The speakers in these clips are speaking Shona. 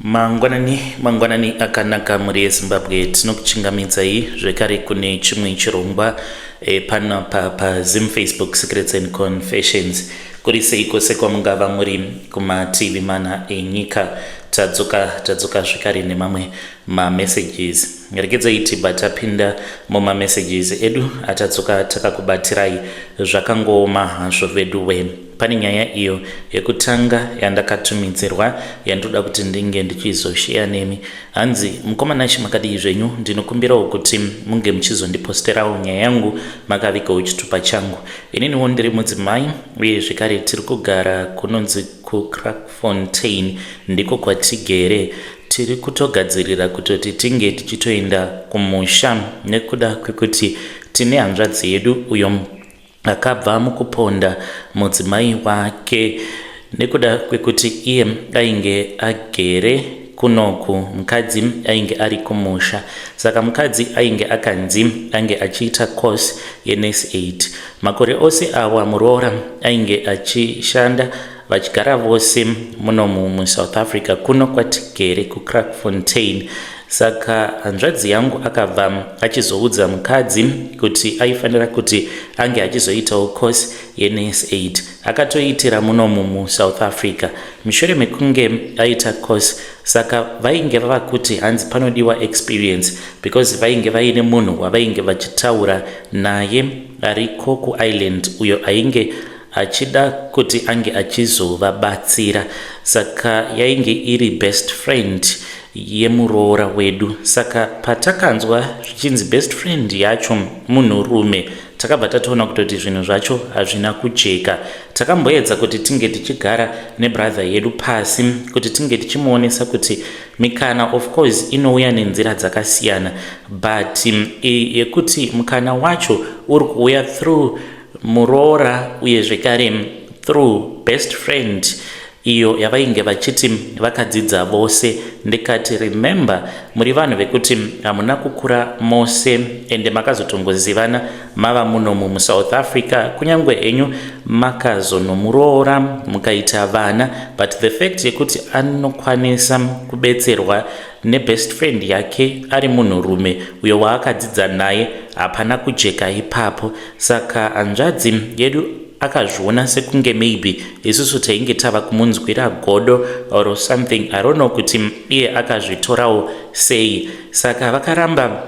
Mangwanani mangwanani akanaka mhuri yeZimbabwe tinokuchingamidzai zvekare kune chimwe chirongwa e, pano pa paZim Facebook Secrets and Confessions kuri seiko sekwamungava muri kumativi mana enyika tadzoka tadzoka zvekare nemamwe mamessages rekedzai tibva tapinda mumamessages edu atadzoka takakubatsirai zvakangooma hazvo veduwe Pane nyaya iyo yekutanga yandakatumidzirwa yandoda kuti ndinge ndichizosheya nemi. Hanzi, mukoma Nash makadii zvenyu? Ndinokumbirawo kuti munge muchizondiposterawo nyaya yangu makavikawo chitupa changu. Ininiwo ndiri mudzimai uye zvekare tiri kugara kunonzi kuCrackfontein ndiko kwatigere tiri kutogadzirira kutoti tinge tichitoenda kumusha nekuda kwekuti tine hanzvadzi yedu uyo akabva mukuponda mudzimai wake nekuda kwekuti iye ainge agere kunoku mukadzi ainge ari kumusha saka mukadzi ainge akanzi ange achiita course yenes 8 makore ose awa muroora ainge achishanda vachigara vose muno musouth africa kuno kwatigere kucrackfontain saka hanzvadzi yangu akabva achizoudza mukadzi kuti aifanira kuti ange achizoitawo course yenurse8 akatoitira muno mumusouth africa mushure mekunge aita course saka vainge vava kuti hanzi panodiwa experience because vainge vaine munhu wavainge vachitaura naye ariko kuireland uyo ainge achida kuti ange achizovabatsira saka yainge iri best friend yemuroora wedu saka patakanzwa zvichinzi best friend yacho munhurume takabva tatoona kutoti zvinhu zvacho hazvina kujeka takamboedza kuti tinge tichigara nebrother yedu pasi kuti tinge tichimuonesa kuti mikana of course inouya nenzira dzakasiyana but mm, yekuti mukana wacho uri kuuya through muroora uye zvekare through best friend iyo yavainge vachiti vakadzidza vose ndikati remember muri vanhu vekuti hamuna kukura mose ende makazotongozivana mava muno mumusouth africa kunyange henyu makazonomuroora mukaita vana but the fact yekuti anokwanisa kubetserwa nebest friend yake ari munhurume uyo waakadzidza naye hapana kujeka ipapo saka hanzvadzi yedu akazviona sekunge maybe isusu tainge tava kumunzwira godo or something i don't know kuti iye akazvitorawo sei saka vakaramba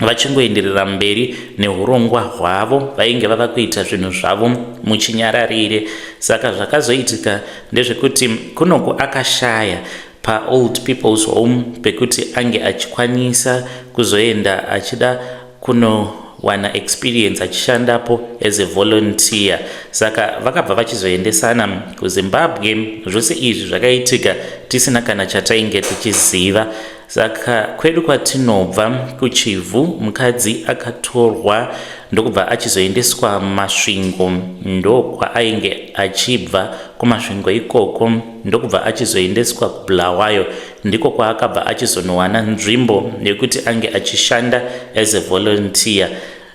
Vachingoenderera mberi nehurongwa hwavo, vainge vava kuita zvinhu zvavo muchinyararire. Saka zvakazoitika ndezvekuti Kunoku akashaya paOld People's Home pekuti ange achikwanisa kuzoenda achida kuno wana experience achishandapo as a volunteer saka vakabva vachizoendesana kuzimbabwe zvose izvi zvakaitika tisina kana chatainge tichiziva Saka kwedu kwatinobva kuChivhu mukadzi akatorwa ndokubva achizoendeswa Masvingo ndokwaainge achibva kuMasvingo ikoko ndokubva achizoendeswa kuBulawayo ndiko kwaakabva achizonowana nzvimbo yekuti ange achishanda as a volunteer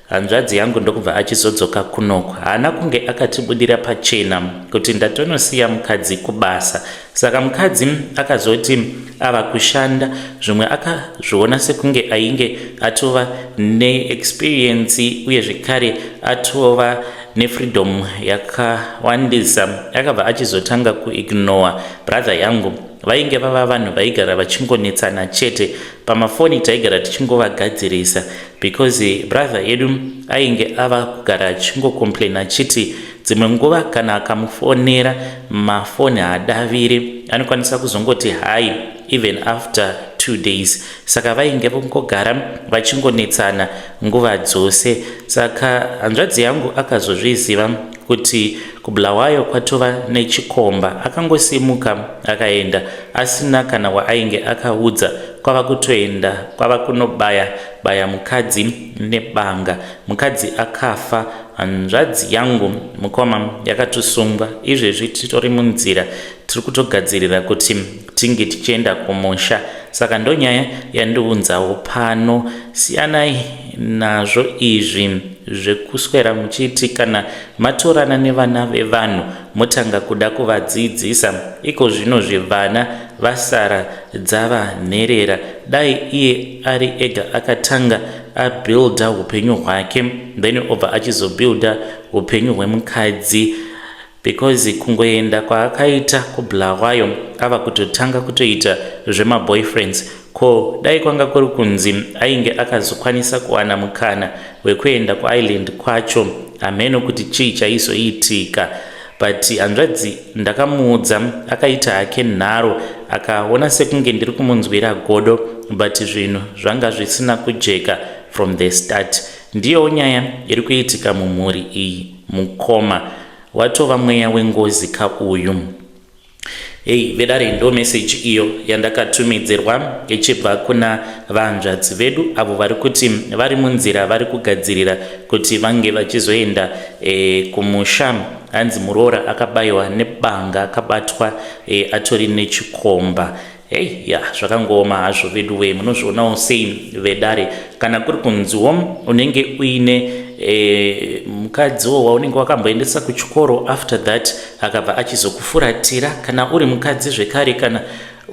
Hanzvadzi yangu ndokubva achizodzoka kunoko. Haana kunge akatibudira pachena kuti ndatonosiya mukadzi kubasa. Saka mukadzi akazoti ava kushanda zvimwe akazviona sekunge ainge atova neexperience uye zvekare atova nefreedom yakawandisa. Akabva achizotanga kuignore brother yangu vainge vava vanhu vaigara vachingonetsana chete pamafoni taigara tichingovagadzirisa because brother yedu ainge ava kugara achingocomplaina achiti dzimwe nguva kana akamufonera mafoni haadaviri anokwanisa kuzongoti hai even after two days saka vainge vongogara vachingonetsana nguva dzose saka hanzvadzi yangu akazozviziva kuti kubulawayo kwatova nechikomba akangosimuka akaenda asina kana waainge akaudza kwava kutoenda kwava kunobaya baya mukadzi nebanga mukadzi akafa hanzvadzi yangu mukoma yakatusungwa izvezvi titori munzira tiri kutogadzirira kuti tinge tichienda kumusha saka ndonyaya yandiunzawo pano siyanai nazvo izvi zvekuswera muchiti kana matorana nevana vevanhu motanga kuda kuvadzidzisa iko zvino zvevana vasara dzava nherera dai iye ari ega akatanga abuilda upenyu hwake then obva achizobuilda upenyu hwemukadzi because kungoenda kwaakaita kubulawayo ava kutotanga kutoita zvemaboyfriends ko dai kwanga kuri kunzi ainge akazokwanisa kuwana mukana wekuenda kuireland kwacho hameno kuti chii chaizoitika but hanzvadzi ndakamuudza akaita hake nharo akaona sekunge ndiri kumunzwira godo but zvinhu zvanga zvisina kujeka from the start ndiyowo nyaya iri kuitika mumhuri iyi Mukoma watova mweya wengozi ka uyu. Hey vedare ndo message iyo yandakatumidzirwa ichibva kuna vahanzvadzi vedu avo vari kuti vari munzira vari kugadzirira kuti vange vachizoenda e, kumusha hanzi muroora akabayiwa nebanga akabatwa e, atori nechikomba Hey, ya zvakangooma hazvo veduwe munozvionawo sei vedare kana kuri kunziwo unenge uine e, mukadziwo waunenge wakamboendesa kuchikoro after that akabva achizokufuratira kana uri mukadzi zvekare kana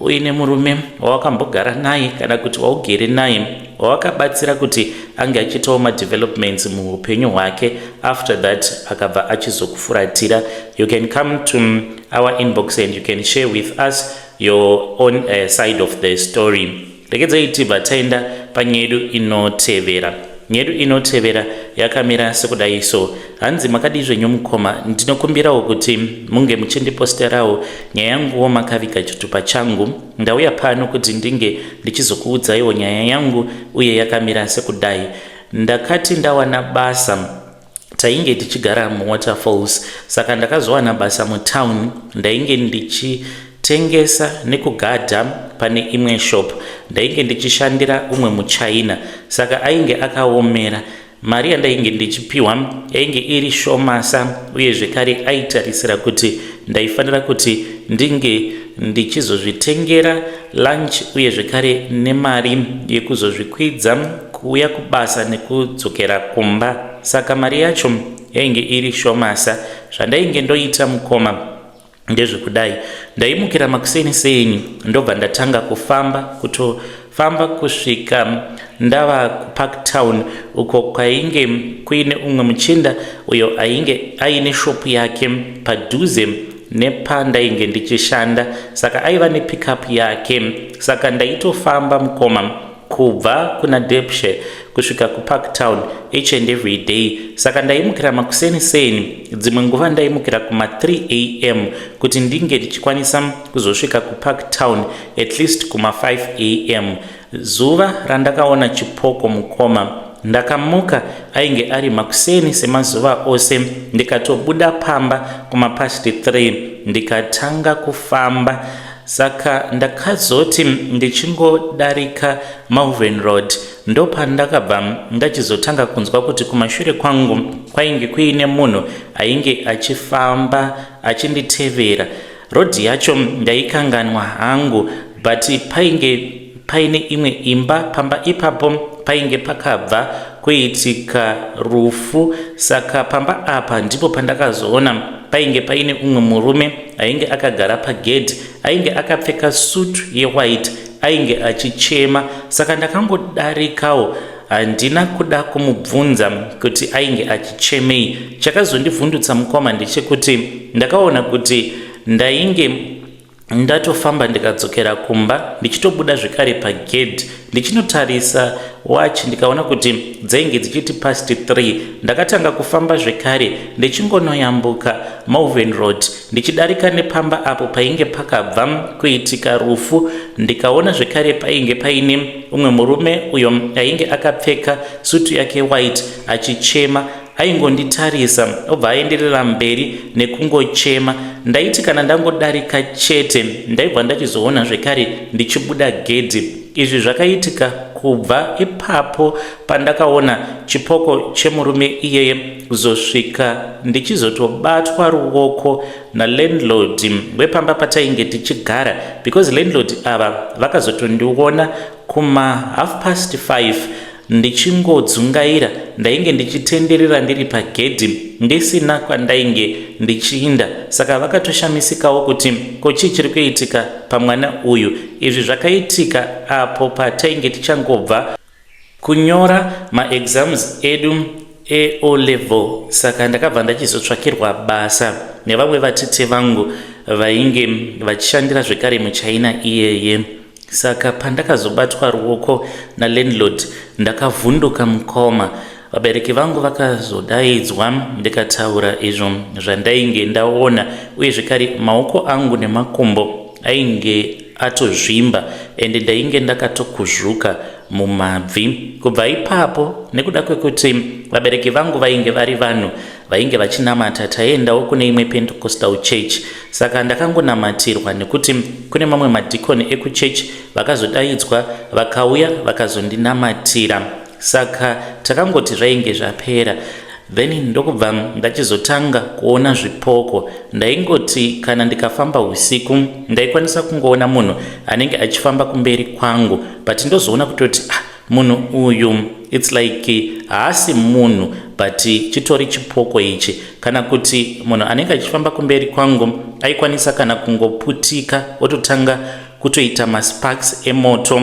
uine murume wawakambogara naye kana kuti waugere naye wawakabatsira kuti ange achiitawo madevelopments muupenyu hwake after that akabva achizokufuratira you can come to our inbox and you can share with us your own uh, side of the story regedzai tibva taenda panyedu inotevera nyedu inotevera yakamira sekudai so hanzi makadii zvenyu mukoma ndinokumbirawo kuti munge muchindiposterawo nyaya yanguwo makaviga chitupa changu ndauya pano kuti ndinge ndichizokuudzaiwo nyaya yangu uye yakamira sekudai ndakati ndawana basa tainge tichigara muwaterfalls saka ndakazowana basa mutown ndainge ndichitengesa nekugadha pane imwe shop ndainge ndichishandira umwe muchina saka ainge akaomera mari yandainge ndichipiwa yainge iri shomasa uye zvekare aitarisira kuti ndaifanira kuti ndinge ndichizozvitengera lunch uye zvekare nemari yekuzozvikwidza kuuya kubasa nekudzokera kumba saka mari yacho yainge iri shomasa zvandainge ndoita mukoma ndezvekudai ndaimukira makuseni seni ndobva ndatanga kufamba kutofamba kusvika ndava kupark town uko kwainge kuine umwe muchinda uyo ainge aine shopu yake padhuze nepandainge ndichishanda saka aiva nepickup yake saka ndaitofamba mukoma kubva kuna depshe kusvika kupark town each and every day saka ndaimukira makuseni seni dzimwe nguva ndaimukira kuma 3 am kuti ndinge ndichikwanisa kuzosvika kupark town at least kuma 5 am Zuva randakaona chipoko mukoma ndakamuka ainge ari makuseni semazuva ose ndikatobuda pamba kumapast 3 ndikatanga kufamba saka ndakazoti ndichingodarika Malvern Road ndopandakabva ndachizotanga kunzwa kuti kumashure kwangu kwainge kuine munhu ainge achifamba achinditevera Road yacho ndaikanganwa hangu but painge paine imwe imba pamba ipapo painge pakabva kuitika rufu saka pamba apa ndipo pandakazoona painge paine umwe murume ainge akagara pagedhi ainge akapfeka sutu yewhite ainge achichema saka ndakangodarikawo Handina kuda kumubvunza kuti ainge achichemei. Chakazondivhundutsa mukoma ndechekuti ndakaona kuti ndainge ndatofamba ndikadzokera kumba ndichitobuda zvekare pagedhi ndichinotarisa wachi ndikaona kuti dzainge dzichiti past 3 ndakatanga kufamba zvekare ndichingonoyambuka malven road ndichidarika nepamba apo painge pakabva kuitika rufu ndikaona zvekare painge paine umwe murume uyo ainge akapfeka sutu yake white achichema aingonditarisa obva aenderera mberi nekungochema ndaiti kana ndangodarika chete ndaibva ndachizoona zvekare ndichibuda gedhi izvi zvakaitika kubva ipapo pandakaona chipoko chemurume iyeye kuzosvika ndichizotobatwa ruoko nalandlord wepamba patainge tichigara because landlord ava vakazotondiona kuma half past 5 ndichingodzungaira ndainge ndichitenderera ndiri pagedhi ndisina kwandainge ndichiinda saka vakatoshamisikawo kuti ko chii chiri kuitika pamwana uyu izvi zvakaitika apo patainge tichangobva Kunyora ma exams edu e O level saka ndakabva ndachizotsvakirwa basa nevamwe vatete vangu vainge vachishandira zvekare muchina iyeye. Saka pandakazobatwa ruoko na landlord ndakavhunduka mukoma Vabereki vangu vakazodaidzwa ndikataura izvo zvandainge ndaona uye zvekare maoko angu nemakumbo ainge atozvimba ende ndainge ndakatokuzvuka mumabvi kubva ipapo nekuda kwekuti vabereki vangu vainge vari vanhu vainge vachinamata taiendawo kune imwe pentecostal church saka ndakangonamatirwa nekuti kune mamwe madhikoni ekuchurch vakazodaidzwa vakauya vakazondinamatira saka takangoti zvainge zvapera then ndokubva ndachizotanga kuona zvipoko ndaingoti kana ndikafamba usiku ndaikwanisa kungoona munhu anenge achifamba kumberi kwangu but ndozoona kutoti ah, munhu uyu its like haasi munhu but chitori chipoko ichi kana kuti munhu anenge achifamba kumberi kwangu aikwanisa kana kungoputika ototanga kutoita masparks emoto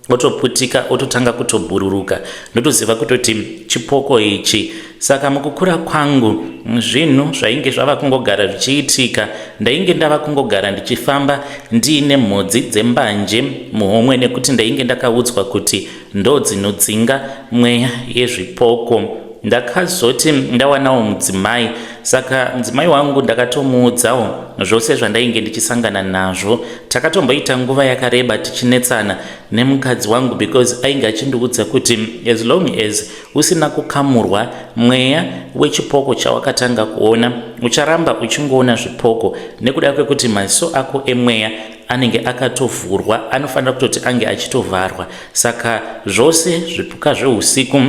otoputika ototanga kutobhururuka ndotoziva kutoti chipoko ichi saka mukukura kwangu zvinhu zvainge zvava kungogara zvichiitika ndainge ndava kungogara ndichifamba ndiine mhodzi dzembanje muhomwe nekuti ndainge ndakaudzwa kuti ndo dzinodzinga mweya yezvipoko ndakazoti ndawanawo mudzimai saka mudzimai wangu ndakatomuudzawo zvose zvandainge ndichisangana nazvo takatomboita nguva yakareba tichinetsana nemukadzi wangu because ainge achindiudza kuti as long as usina kukamurwa mweya wechipoko chawakatanga kuona ucharamba uchingoona zvipoko nekuda kwekuti maziso ako emweya anenge akatovhurwa anofanira kutoti ange achitovharwa saka zvose zvipuka zveusiku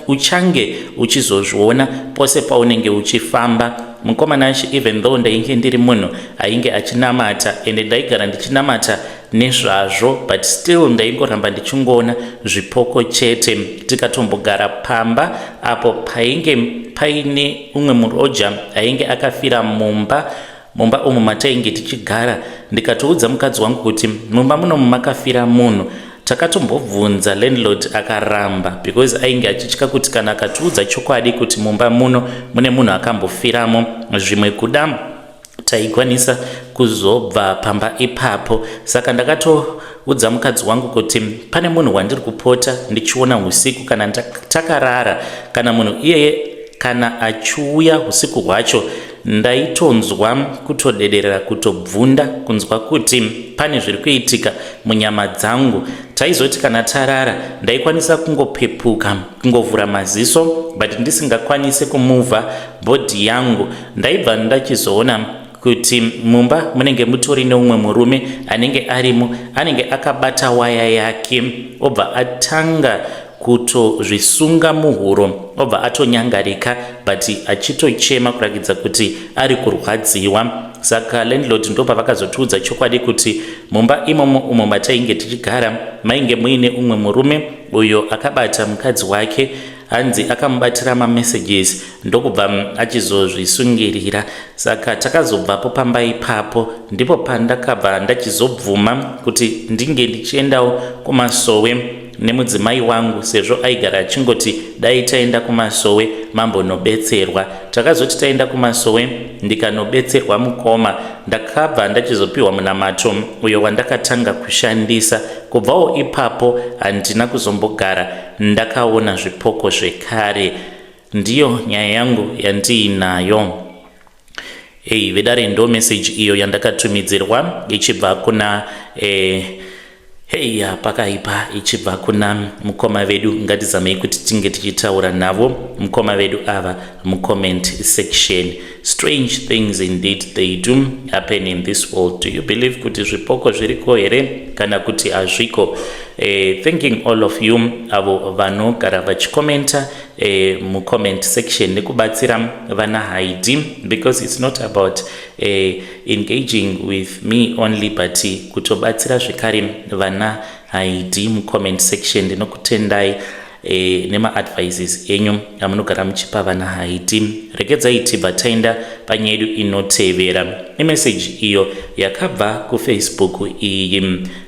uchange uchizozviona pose paunenge uchifamba mukomana achi even though ndainge ndiri munhu ainge achinamata ende ndaigara ndichinamata nezvazvo but still ndaingoramba ndichingoona zvipoko chete tikatombogara pamba apo painge paine umwe muroja ainge akafira mumba mumba umu matainge tichigara ndikatoudza mukadzi wangu kuti mumba munomu makafira munhu takatombobvunza landlord akaramba because ainge achitya kuti kana akatiudza chokwadi kuti mumba muno mune munhu akambofiramo zvimwe kuda taikwanisa kuzobva pamba ipapo saka ndakato udza mukadzi wangu kuti pane munhu wandiri kupota ndichiona usiku kana takarara kana munhu iyeye kana achiuya usiku hwacho Ndaitonzwa kutodederera kutobvunda kunzwa kuti pane zviri kuitika munyama dzangu. Taizoti kana tarara ndaikwanisa kungopepuka kungovhura maziso but ndisingakwanise kumuvha bhodhi yangu. Ndaibva ndachizoona kuti mumba munenge mutori neumwe murume anenge arimo anenge akabata waya yake obva atanga kutozvisunga muhuro obva atonyangarika but achitochema kurakidza kuti ari kurwadziwa saka landlord ndopavakazotiudza chokwadi kuti mumba imomo umo matainge tichigara mainge muine umwe murume uyo akabata mukadzi wake hanzi akamubatira mamessages ndokubva mm, achizozvisungirira saka takazobvapo pamba ipapo ndipo pandakabva ndachizobvuma kuti ndinge ndichiendawo kumasowe nemudzimai wangu sezvo aigara achingoti dai taenda kumasowe mambonobetserwa. Takazoti taenda kumasowe ndikanobetserwa mukoma ndakabva ndachizopiwa munamato uyo wandakatanga kushandisa. Kubvawo ipapo handina kuzombogara ndakaona zvipoko zvekare. Ndiyo nyaya yangu yandiinayo. Hey, vedare ndo message iyo yandakatumidzirwa ichibva kuna eh, hey pakaipa ichibva kuna mukoma vedu ngatizamei kuti tinge tichitaura navo mukoma vedu ava mucomment section strange things indeed they do happen in this world do you believe kuti zvipoko zviriko here kana kuti hazviko eh, thinking all of you avo vanogara vachikomenta e, mucomment section nekubatsira vana haidi because it's not about e, engaging with me only but kutobatsira zvekare vana haidi mucomment section ndinokutendai e, nemaadvices enyu amunogara muchipa vana haiti regedzai tibva taenda panyaya yedu inotevera imeseji iyo yakabva kufacebook iyi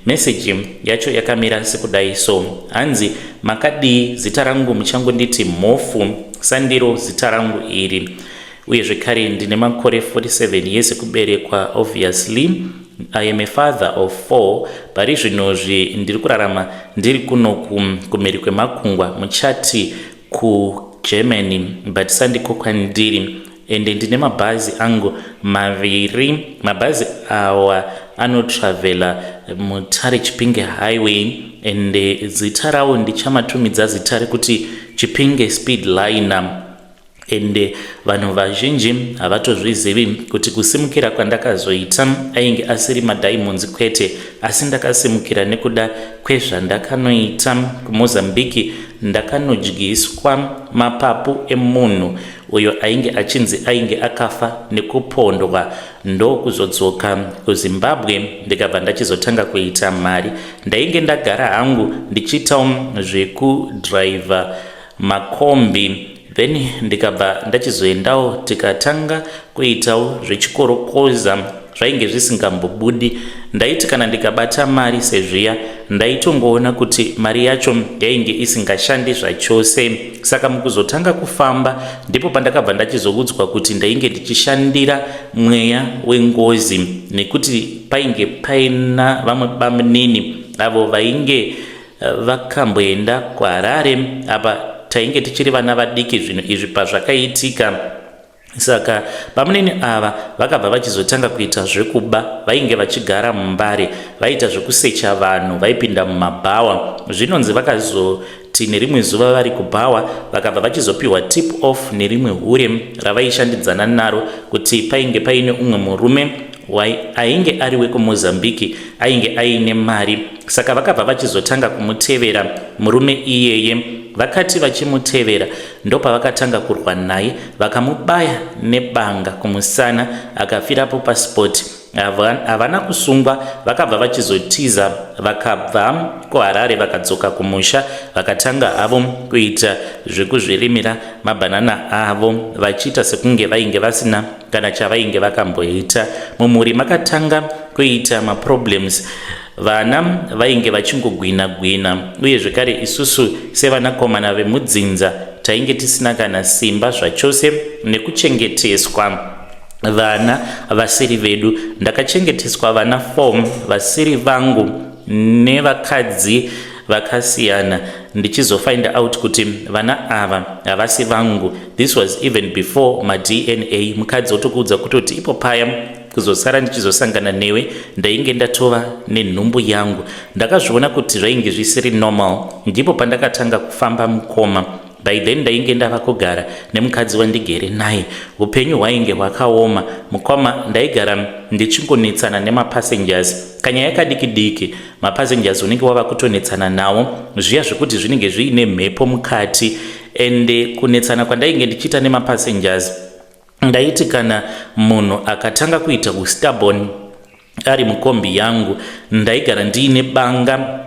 Message yacho yakamira sekudai so hanzi makadii zita rangu muchangonditi mhofu sandiro zita rangu iri uye zvekare ndine makore 47 years ekuberekwa obviously i am a father of four pari zvinozvi ndiri kurarama ndiri kuno kumhiri kwemakungwa muchati kugermany but sandiko kwandiri ende ndine mabhazi angu maviri mabhazi awa anotravhela mutare chipinge highway ende zita rawo ndichamatumidza zita rekuti chipinge speed liner ende vanhu vazhinji havatozvizivi kuti kusimukira kwandakazoita ainge asiri madiamonds kwete asi ndakasimukira nekuda kwezvandakanoita kumozambiki ndakanodyiswa mapapu emunhu uyo ainge achinzi ainge akafa nekupondwa ndokuzodzoka kuzimbabwe ndikabva ndachizotanga kuita mari ndainge ndagara hangu ndichiitawo zvekudriver makombi then ndikabva ndachizoendawo tikatanga kuitawo zvechikorokoza zvainge zvisingambobudi ndaiti kana ndikabata mari sezviya ndaitongoona kuti mari yacho yainge isingashandi zvachose saka mukuzotanga kufamba ndipo pandakabva ndachizoudzwa kuti ndainge ndichishandira mweya wengozi nekuti painge paina vamwe bamunini avo vainge eh, vakamboenda kuharare apa tainge tichiri vana vadiki zvinhu izvi pazvakaitika Saka bamunini ava vakabva vachizotanga kuita zvekuba, vainge vachigara muMbare, vaiita zvekusecha vanhu vaipinda mumabhawa. Zvinonzi vakazoti nerimwe zuva vari kubhawa vakabva vachizopiwa tip off nerimwe hure ravaishandidzana naro kuti painge paine umwe murume ainge ari wekumozambique ainge aine mari saka vakabva vachizotanga kumutevera murume iyeye vakati vachimutevera ndopavakatanga kurwa naye vakamubaya nebanga kumusana akafirapo pasport havana kusungwa vakabva vachizotiza vakabva kuharare vakadzoka kumusha vakatanga havo kuita zvekuzvirimira mabhanana avo vachiita sekunge vainge vasina kana chavainge vakamboita mumhuri makatanga kuita maproblems Vana vainge vachingogwina gwina uye zvekare isusu sevanakomana vemudzinza tainge tisina kana simba zvachose nekuchengeteswa vana vasiri vedu. Ndakachengeteswa vana four vasiri vangu nevakadzi vakasiyana ndichizofind out kuti vana ava havasi vangu this was even before madna mukadzi otokuudza kutoti ipo paya kuzosara ndichizosangana newe ndainge ndatova nenhumbu yangu ndakazviona kuti zvainge zvisiri normal ndipo pandakatanga kufamba mukoma by then ndainge ndava kugara nemukadzi wandigere naye upenyu hwainge hwakaoma mukoma ndaigara ndichingonetsana nemapassengers kanyaya kadiki diki mapassengers unenge wava kutonetsana nawo zviya zvekuti zvinenge zviine mhepo mukati ende kunetsana kwandainge ndichiita nemapassengers Ndaiti kana munhu akatanga kuita ustubborn ari mukombi yangu, ndaigara ndiine banga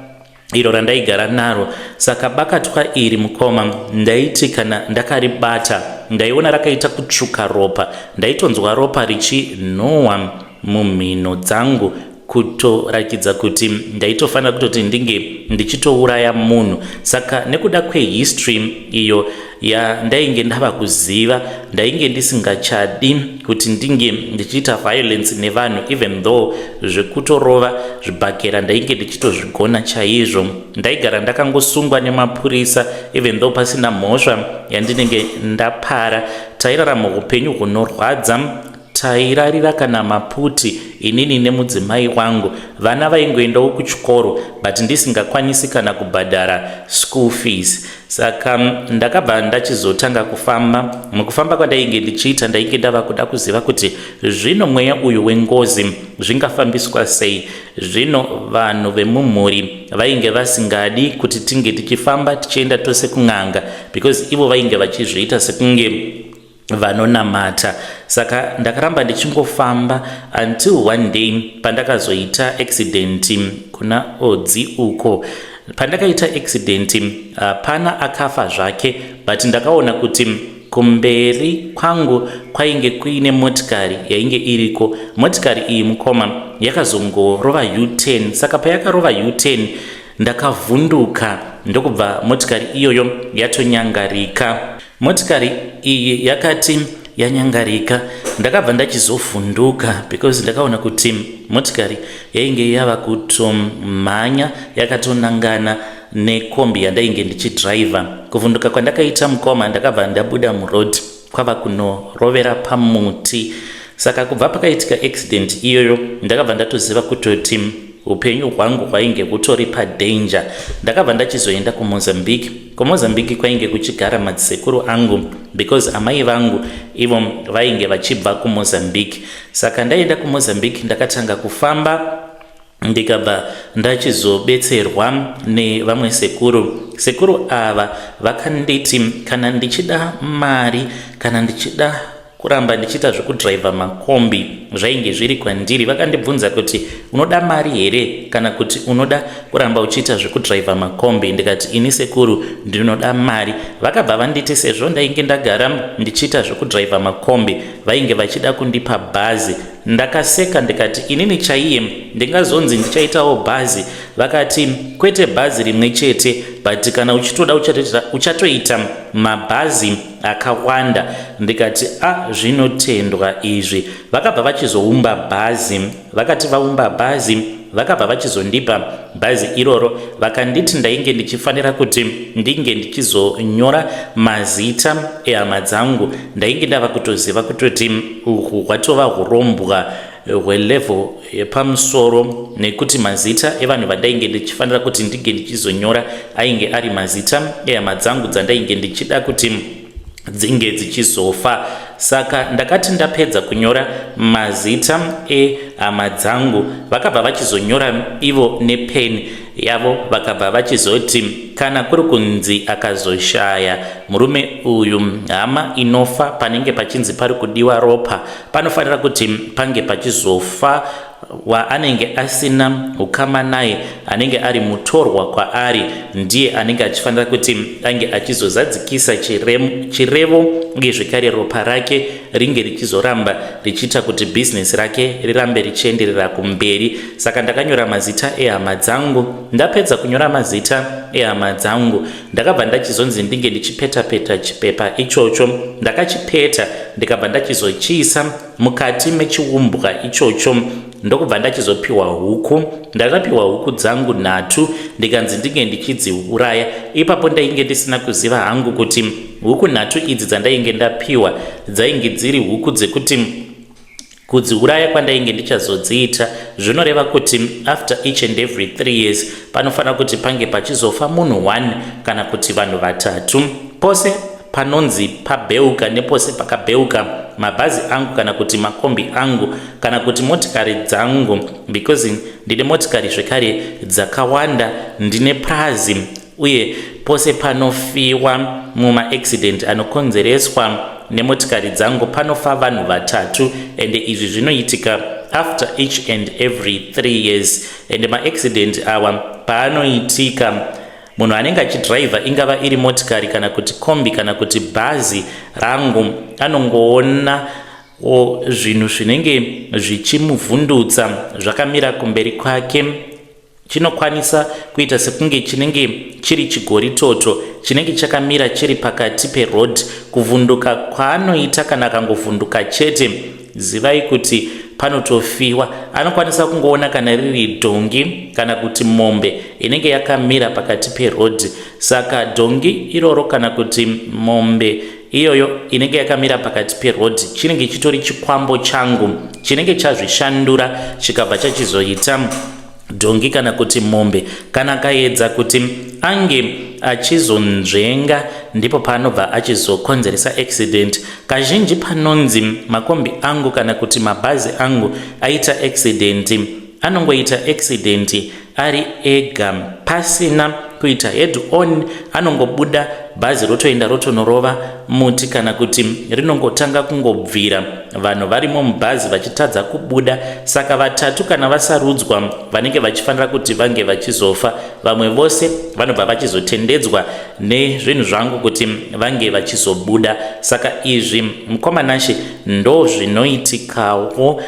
iro randaigara naro. Saka bakatwa iri mukoma, ndaiti kana ndakaribata ndaiona rakaita kutsvuka ropa, ndaitonzwa ropa richinhuhwa mumhino dzangu kutorakidza kuti ndaitofanira kutoti ndinge ndichitouraya munhu saka nekuda kwehistory iyo yandainge ndava kuziva ndainge ndisingachadi kuti ndinge ndichiita violence nevanhu even though zvekutorova zvibhakera ndainge ndichitozvigona chaizvo ndaigara ndakangosungwa nemapurisa even though pasina mhosva yandinenge ndapara tairarama upenyu hunorwadza Tairarira kana maputi inini nemudzimai wangu. Vana vaingoendawo kuchikoro but ndisingakwanisi kana kubhadhara school fees. Saka ndakabva ndachizotanga kufamba. Mukufamba kwandainge ndichiita ndainge ndava kuda kuziva kuti zvino mweya uyu wengozi zvingafambiswa sei. Zvino vanhu vemumhuri vainge vasingadi kuti tinge tichifamba tichienda tose kun'anga because ivo vainge vachizviita sekunge vanonamata saka ndakaramba ndichingofamba until one day pandakazoita accident kuna odzi uko pandakaita accident uh, pana akafa zvake but ndakaona kuti kumberi kwangu kwainge kuine motikari yainge iriko motikari iyi mukoma yakazongorova u10 saka payakarova u10 ndakavhunduka ndokubva motikari iyoyo yatonyangarika Motikari iyi yakati yanyangarika ndakabva ndachizovhunduka because ndakaona kuti motikari yainge yava kutomhanya yakatonangana nekombi yandainge ndichidriver kuvhunduka kwandakaita mukoma ndakabva ndabuda muroad kwava kunorovera pamuti saka kubva pakaitika accident iyoyo ndakabva ndatoziva kutoti upenyu hwangu hwainge hutori padanger ndakabva ndachizoenda kumozambique KuMozambique kwainge kuchigara madzisekuru angu because amai vangu ivo vainge vachibva kuMozambique. Saka ndaenda kuMozambique ndakatanga kufamba ndikabva ndachizobetserwa nevamwe sekuru sekuru ava vakanditi kana ndichida mari kana ndichida kuramba ndichiita zvekudriver makombi zvainge zviri kwandiri vakandibvunza kuti unoda mari here kana kuti unoda kuramba uchiita zvekudriver makombi ndikati ini sekuru ndinoda mari vakabva vanditi sezvo ndainge ndagara ndichiita zvekudriver makombi vainge vachida kundipa bhazi ndakaseka ndikati inini chaiye ndingazonzi ndichaitawo bhazi vakati kwete bhazi rimwe chete but kana uchitoda uchatoita mabhazi akawanda ndikati a ah, zvinotendwa izvi vakabva vachizoumba bhazi vakati vaumba bhazi vakabva vachizondipa bhazi iroro vakanditi ndainge ndichifanira kuti ndinge ndichizonyora mazita ehama dzangu ndainge ndava kutoziva kutoti uhu hwatova urombwa hwelevel yepamusoro nekuti mazita evanhu vandainge ndichifanira kuti ndinge ndichizonyora ainge ari mazita ehama dzangu dzandainge ndichida kuti dzinge dzichizofa saka ndakati ndapedza kunyora mazita ehama dzangu vakabva vachizonyora ivo nepeni yavo vakabva vachizoti kana kuri kunzi akazoshaya murume uyu hama inofa panenge pachinzi pari kudiwa ropa panofanira kuti pange pachizofa waanenge asina ukama naye anenge ari mutorwa kwaari ndiye anenge achifanira kuti ange achizozadzikisa chirevo uye zvekare ropa rake ringe richizoramba richiita kuti bhizinesi rake rirambe richienderera kumberi saka ndakanyora mazita ehama dzangu ndapedza kunyora mazita ehama dzangu Ndakabva ndachizonzi ndinge ndichipetapeta chipepa ichocho. Ndakachipeta ndikabva ndachizochiisa mukati mechiumbwa ichocho ndokubva ndachizopiwa huku. Ndakapiwa huku dzangu nhatu ndikanzi ndinge ndichidziuraya. Ipapo ndainge ndisina kuziva hangu kuti huku nhatu idzi dzandainge ndapiwa dzainge dziri huku dzekuti Kudziuraya kwandainge ndichazodziita zvinoreva kuti after each and every three years panofanira kuti pange pachizofa munhu one kana kuti vanhu vatatu. Pose panonzi pabheuka nepose pakabheuka mabhazi angu kana kuti makombi angu kana kuti motikari dzangu because ndine motikari zvekare dzakawanda ndine prazi uye pose panofiwa mumaaccident anokonzereswa nemotikari dzangu panofa vanhu vatatu ende izvi zvinoitika after each and every three years ende maaccident awa paanoitika munhu anenge achidriver ingava iri motikari kana kuti kombi kana kuti bhazi rangu anongoona zvinhu zvinenge zvichimuvhundutsa zvakamira kumberi kwake chinokwanisa kuita sekunge chinenge chiri chigoritoto chinenge chakamira chiri pakati peroad kuvhunduka kwaanoita kana akangovhunduka chete zivai kuti panotofiwa anokwanisa kungoona kana riri dhongi kana kuti mombe inenge yakamira pakati perodhi saka dhongi iroro kana kuti mombe iyoyo inenge yakamira pakati perodhi chinenge chitori chikwambo changu chinenge chazvishandura chikabva chachizoita dhongi kana kuti mombe kana akaedza kuti ange achizonzvenga ndipo paanobva achizokonzeresa accident kazhinji panonzi makombi angu kana kuti mabhazi angu aita accident anongoita accident ari ega pasina kuita head on anongobuda bhazi rotoenda rotonorova muti kana kuti rinongotanga kungobvira vanhu varimo mubhazi vachitadza kubuda saka vatatu kana vasarudzwa vanenge vachifanira kuti vange vachizofa vamwe vose vanobva vachizotendedzwa nezvinhu zvangu kuti vange vachizobuda saka izvi mukoma nashe ndozvinoitikawo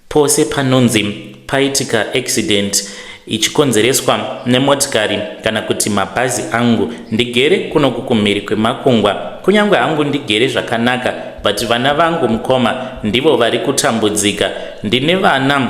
Pose panonzi paitika accident ichikonzereswa nemotikari kana kuti mabhazi angu ndigere kunoku kumhiri kwemakungwa kunyange hangu ndigere zvakanaka but vana vangu mukoma ndivo vari kutambudzika ndine vana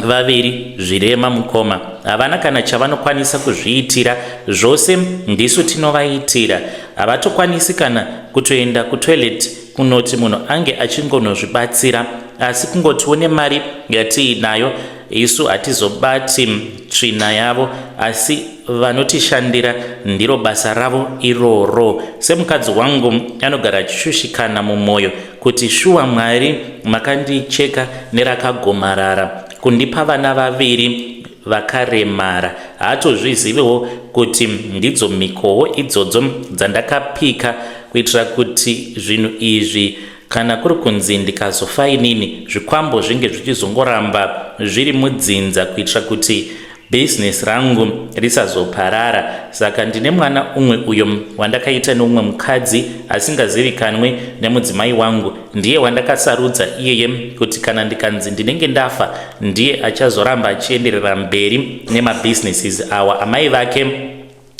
vaviri zvirema mukoma havana kana chavanokwanisa kuzviitira zvose ndisu tinovaitira havatokwanisi kana kutoenda kutoilet kunoti munhu ange achingonozvibatsira asi kungotiwo nemari yatiinayo isu hatizobati tsvina yavo asi vanotishandira ndiro basa ravo iroro semukadzi wangu anogara achishushikana mumwoyo kuti shuwa mwari makandicheka nerakagomarara kundipa vana vaviri vakaremara haatozviziviwo kuti ndidzo mhikowo idzodzo dzandakapika kuitira kuti zvinhu izvi kana kuri kunzi ndikazofa inini zvikwambo zvinge zvichizongoramba zviri mudzinza kuitira kuti bhizinesi rangu risazoparara saka ndine mwana umwe uyo wandakaita neumwe mukadzi asingazivikanwe nemudzimai wangu ndiye wandakasarudza iyeye kuti kana ndikanzi ndinenge ndafa ndiye achazoramba achienderera mberi nemabhizinesis awa amai vake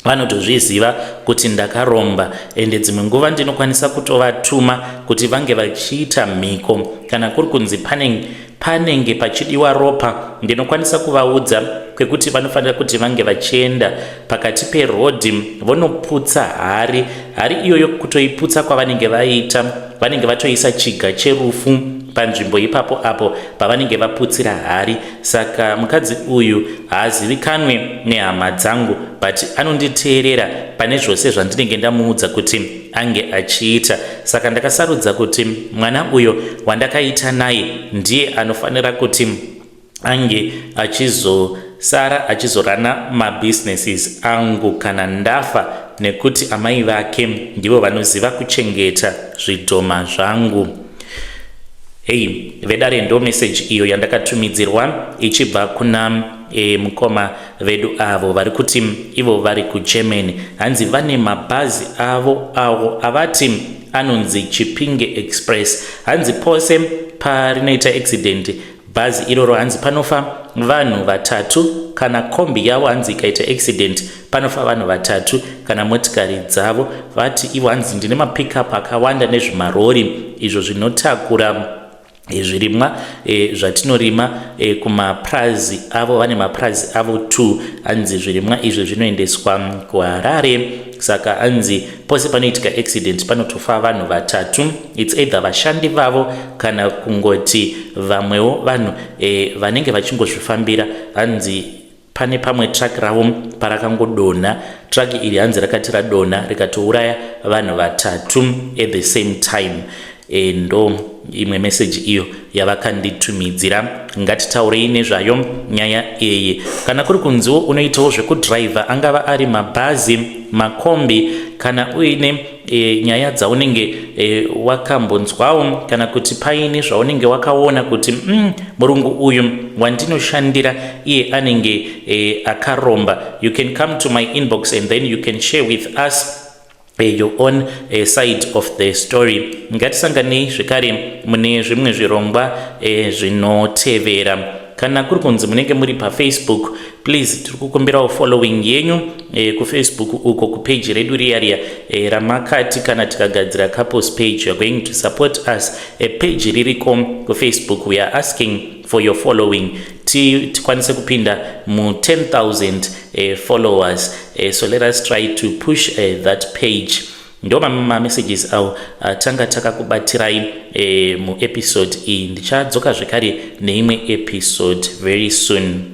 vanotozviziva kuti ndakaromba ende dzimwe nguva ndinokwanisa kutovatuma kuti vange vachiita mhiko kana kuri kunzi panenge panenge pachidiwa ropa ndinokwanisa kuvaudza kwekuti vanofanira kuti vange vachienda pakati perodhi vonoputsa hari hari iyoyo kutoiputsa kwavanenge vaita vanenge vatoisa chiga cherufu panzvimbo ipapo apo pavanenge vaputsira hari saka mukadzi uyu haazivikanwe nehama dzangu but anonditeerera pane zvose zvandinenge ndamuudza kuti ange achiita saka ndakasarudza kuti mwana uyo wandakaita naye ndiye anofanira kuti ange achizosara achizorana mabusinesses angu kana ndafa nekuti amai vake ndivo vanoziva kuchengeta zvidhoma zvangu Hei vedare ndo message iyo yandakatumidzirwa ichibva kuna e, mukoma vedu avo vari kuti ivo vari kuGermany hanzi vane mabhazi avo awo avati anonzi Chipinge Express hanzi pose parinoita accident Bhazi iroro hanzi panofa vanhu vatatu kana kombi yavo hanzi ikaita accident panofa vanhu vatatu kana motikari dzavo vati ivo hanzi ndine mapickup akawanda nezvimarori izvo zvinotakura eh, zvirimwa e, zvatinorima e, kumapurazi avo vane mapurazi avo t hanzi zvirimwa izvi zvinoendeswa kuharare saka hanzi pose panoitika accident panotofa vanhu vatatu its either vashandi vavo kana kungoti vamwewo vanhu e, vanenge vachingozvifambira hanzi pane pamwe truck ravo parakangodonha truck iri hanzi rakati radonha rikatouraya vanhu vatatu at the same time e, ndo imwe meseji iyo yavakanditumidzira ngatitaurei nezvayo nyaya iyi kana kuri kunziwo unoitawo zvekudhiraivha angava ari mabhazi makombi kana uine e, nyaya dzaunenge e, wakambonzwawo kana kuti paine zvaunenge wakaona kuti mm, murungu uyu wandinoshandira iye anenge e, akaromba you can come to my inbox and then you can share with us Eh, your own uh, side of the story ngatisanganei zvekare mune zvimwe zvirongwa uh, zvinotevera kana kuri kunzi munenge muri pafacebook please tiri kukumbirawo following yenyu e, kufacebook uko kupeji redu riya riya e, ramakati kana tikagadzira couples page youare going to support us e, peji ririko kufacebook we are asking for your following tikwanise kupinda mu 10000 e, followers e, so let us try to push e, that page ndo mamessages awo atanga takakubatirai e, muepisode iyi ndichadzoka zvekare neimwe episode very soon